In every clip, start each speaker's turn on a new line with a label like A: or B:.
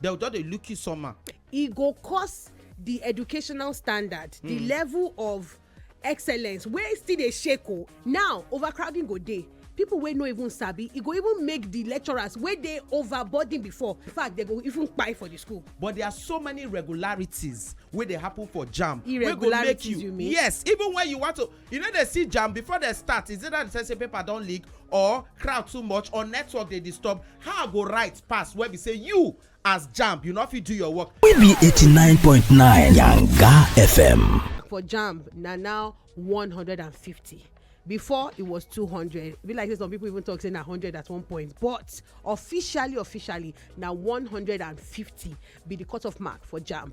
A: dem just dey look you somehow. e go cause the educational standard the hmm. level of excellence wey still dey shake o oh. now overcrowding go dey people wey no even sabi e go even make the lecturers wey dey overburden before in fact they go even kpai for the school. but there are so many regularities wey dey happen for jamb wey go make you, you mean? yes even when you want to You no dey see jam before dem start, is either the sense say paper don leak or crowd too much or network dey disturb, how I go write pass wey be say you as jamb you no fit do your work. We be eighty nine point nine Yanga FM. For jamb na now one hundred and fifty. before it was 200 be like say some people even talk say na 100 at one point but officially officially na 150 be the cutoff mark for jamb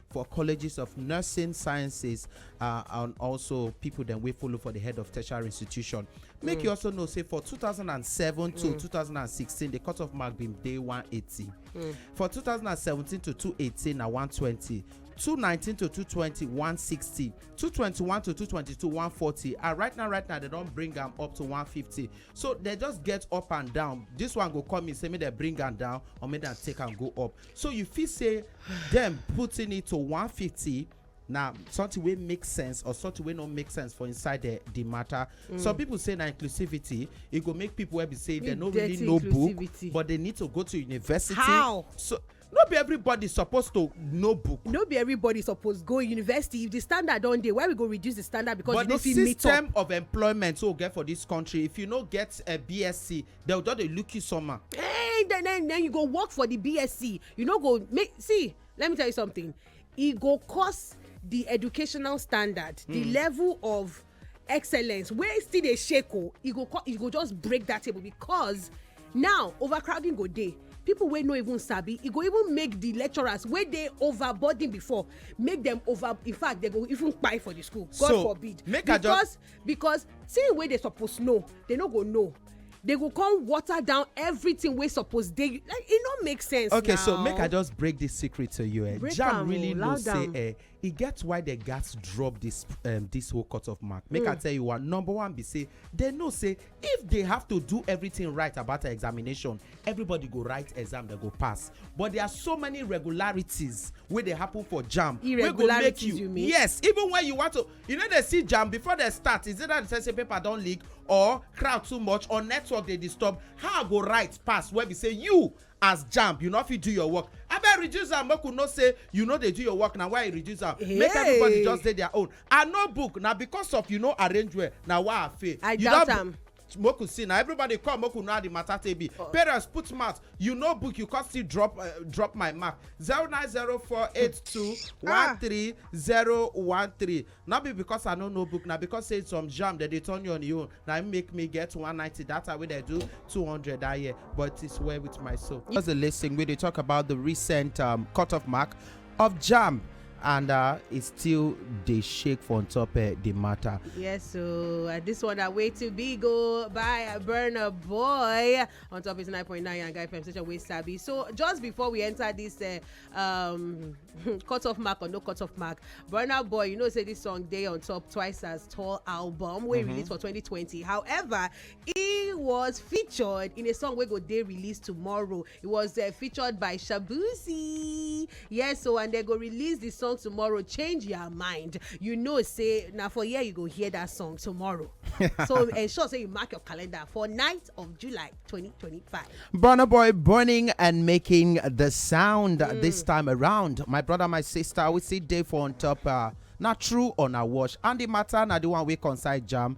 A: for colleges of nursing sciences uh, and also people dem wey follow for the head of tertiary institution make mm. you also know say for 2007 to mm. 2016 the cut off mark bin dey 180 mm. for 2017 to 218 na 120 219 to 220 160 221 to 222 140 and right now right now they don bring am up to 150 so they just get up and down this one go come in say make dem bring am down or make dem take am go up so you fit say dem putting it to 150 na something wey make sense or something wey no make sense for inside the the matter mm. some people say na inclusivity e go make people wey be say dem no really know book but they need to go to university how so no be everybody suppose to know book. no be everybody suppose go university if the standard don dey why we go reduce the standard because but you no fit meet up. but the system of employment wey we get for this country if you no get a bsc dem go just dey look you somehow. Hey, then, then, then you go work for the BSC. You no go make see. Let me tell you something. E go cause the educational standard, the hmm. level of excellence wey still dey shake o. Oh, e go e go just break that table because now overcrowding go dey people wey no even sabi e go even make the lecturers wey dey overburden before make dem over in fact dem go even kpai for the school god so, forbid make because because thing wey dey suppose know dey no go know they go come water down everything wey suppose dey like e no make sense okay now. so make i just break this secret to you eh jam oh, really know say eh e get why the gas drop this um, this whole cut off mark make mm. i hmm. tell you what number one be say they know say if they have to do everything right about the examination everybody go write exam they go pass but there are so many regularities wey dey happen for jam wey go make you, you mean? yes even when you want to You no dey see jam before dem start, is either the sense say paper don leak or crowd too much or network dey disturb, how I go write pass wey be say you as jamb you no fit do your work, abeg reduce am make we know say you no dey do your work na why I reduce am, make everybody Hey. just dey their own, I know book na because of you no arrange well na why I fail, I you doubt don am. make we see na everybody come make we know how the matter take be oh. parents put mouth you know book you come still drop uh, drop my mark zero nine zero four eight two one ah. three zero one three no be because i no know book na because say some jam dem dey turn you on your own na im make me get one ninety that time wey dem do two hundred that year but it's well with my soul. just dey lis ten we dey talk about the recent um, cut off mark of jam and uh, e still dey shake for on top uh, the matter. Yes, so uh, this one are way too big oh, by Burner Boy on top is 9.9 and Guy FM station with Sabi. So just before we enter this uh, um, cut off mark or no cut off mark, Burner Boy, you know, say this song day on top twice as tall album we mm -hmm. released for 2020. However, He was featured in a song wey go dey released tomorrow. He was uh, featured by Shabuzi. Yes, so and they go release the song tomorrow. Change your mind. You know, say now for here you go hear that song tomorrow. so ensure say you mark your calendar for 9th of July 2025. Burna Boy burning and making the sound mm. this time around. My brother, my sister, we see day for on top. Uh, na true or na wash and the matter na the one wey concern jam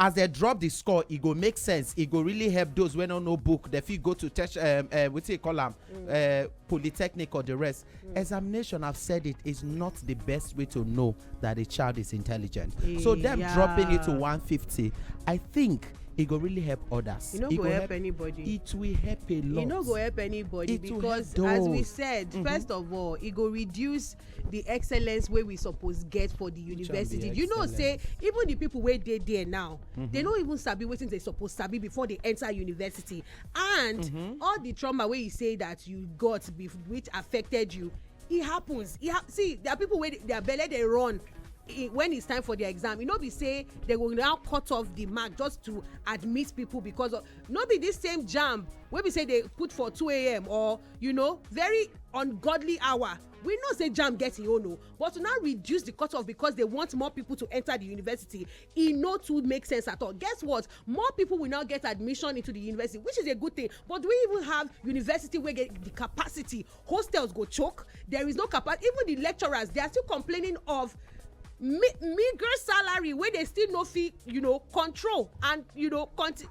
A: As dem drop di score, e go make sense, e go really help those wey no know book, dem fit go to tech, um, uh, wetin you call am, mm. uh, polytechnic or the rest. Mm. Examination, I've said it, is not the best way to know that a child is intelligent. Yeah. So them dropping it to 150, I think e go really help others. e no go, go help, help anybody. it will help a lot. e no go help anybody it because as we said mm -hmm. first of all e go reduce the excellence wey we suppose get for the university you know say even the people wey dey there now they mm-hmm. no even sabi wetin they suppose sabi before they enter university and mm-hmm. all the trauma wey you say that you got which affected you e happens e ha see there are people wey their belle dey run when it's time for their exam e no be say they go now cut off the mark just to admit people because of no be this same jam wey be say they put for 2am or you know very ungodly hour we know say jam get im own o but to now reduce the cutoff because they want more people to enter the university e no too make sense at all guess what more people will now get admission into the university which is a good thing but do we even have university wey get the capacity hostels go choke there is no capacity even the lecturers they are still complaining of meager salary wey they still no fit you know control and you know continue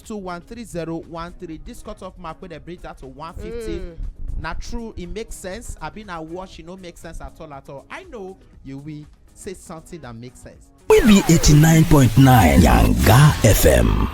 A: two one three zero one three this cut off mark wey dem bring down to one fifty Mm. na true e make sense abi na wash e no make sense at all at all i know you will say something that make sense. We be 89.9 Yanga FM.